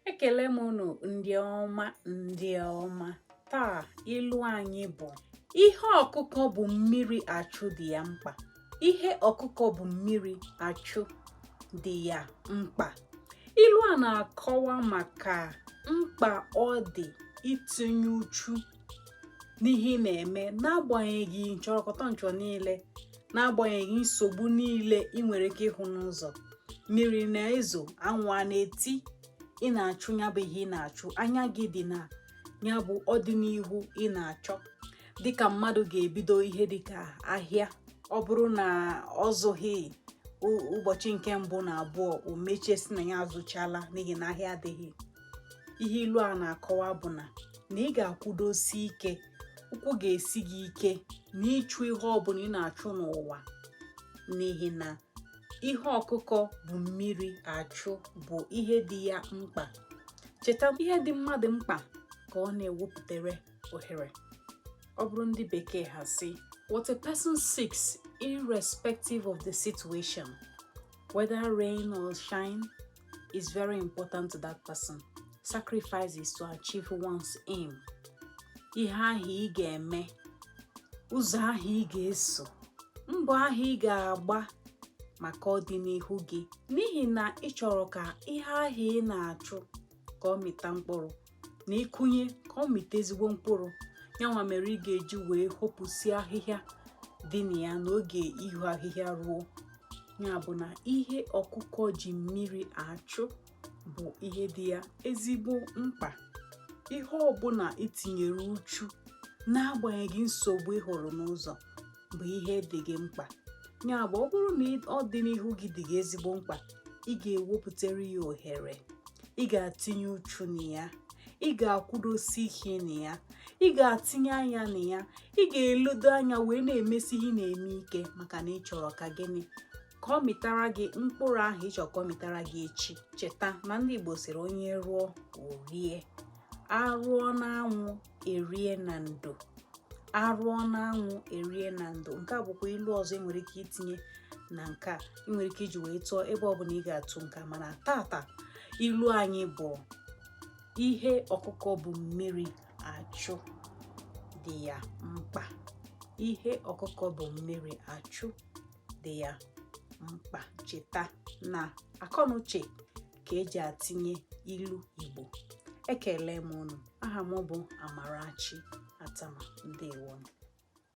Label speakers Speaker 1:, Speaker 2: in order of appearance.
Speaker 1: ekele m unu ndị ọma ndị ọma taa ilu anyị bụ ihe ọkụkọ bu mmiri achụ dị ya mkpa ihe ọkụkọ bu mmiri achụ dị ya mkpa ilu a na-akọwa maka mkpa ọ dị itinye uchu n'ihe ị na-eme n'agbanyeghị nchọrọkọta nchọ niile n'agbanyeghị nsogbu niile ị nwere ike ịhụ n'ụzọ mmiri na-ezo anwụ a na-eti ị na-achụ ya bụ ihe ị na-achụ anya gị dị na ya bụ ọdịnihu ị na-achọ dịka mmadụ ga-ebido ihe dịka ahịa ọ bụrụ na ọ zụghị ụbọchị nke mbụ na abụọ o mechie sị na ya azụchala n'ihi na ahịa adịghị ihe ilu a na-akọwa bụ na na ị ga-akwụdosi ike ụkwụ ga-esi gị ike n'ịchụ ihe ọbụla ị na-achụ n'ụwa n'ihi na ihe ọkụkọ bu mmiri achụ bụ ihe dị ya mkpa cheta ihe dị mmadụ mkpa ka ọ na-ewepụtara ohere ọ bụrụ ndị bekee ha sị what a person seeks irrespective of the situation whether rain or shine is very important to that person sacrifices to achieve one's aim ihe ahụ ị ga-eme ụzọ ahụ ị ga-eso mbọ ahụ ị ga-agba maka ọdịnihu gị n'ihi na ị chọrọ ka ihe ahụ ị na-achụ ka ọ mịta mkpụrụ na ị kụnye ka ọ mịta ezigbo mkpụrụ yanwa mere ị ga-eji wee hopụsi ahịhịa dị na ya n'oge iho ahịhịa ruo ya bụ na ihe ọkụkọ ji mmiri achụ bụ ihe dị ya ezigbo mkpa ihe ọbụla i tinyere uchu n'agbanyeghị nsogbu ị hụrụ n'ụzọ bụ ihe dị gị mkpa ya bụ ọ bụrụ na ọdịnihu gị dị gị ezigbo mkpa ị ga-ewepụtara ya ohere ị ga-atinye uchu na ya ị ga-akwụdosi ike na ya ị ga-atinye anya na ya ị ga-elodo anya wee na-emesi ihe ị na-eme ike maka na ị chọrọ ka gịnị ka ọ mịtara gị mkpụrụ ahụ ị chọ ka ọ mịtara gị echi cheta na ndị Igbo sịrị onye rụọ o rie a rụọ n'anwụ e rie na ndo a rụọ n'anwụ e rie na ndo nke a bụkwa ilu ọzọ e nwere ike itinye na nke a ị nwere ike iji wee tụọ ebe ọ bụla ị ga-atụ nke a mana tata ilu anyị bụ ihe ọkụkọ bu mmiri achụ dị ya mkpa ihe ọkụkọ bu mmiri achụ dị ya mkpa cheta na akọnuche ka e ji atinye ilu Igbo ekele m unu aha m bụ Amarachi Attamah ndewo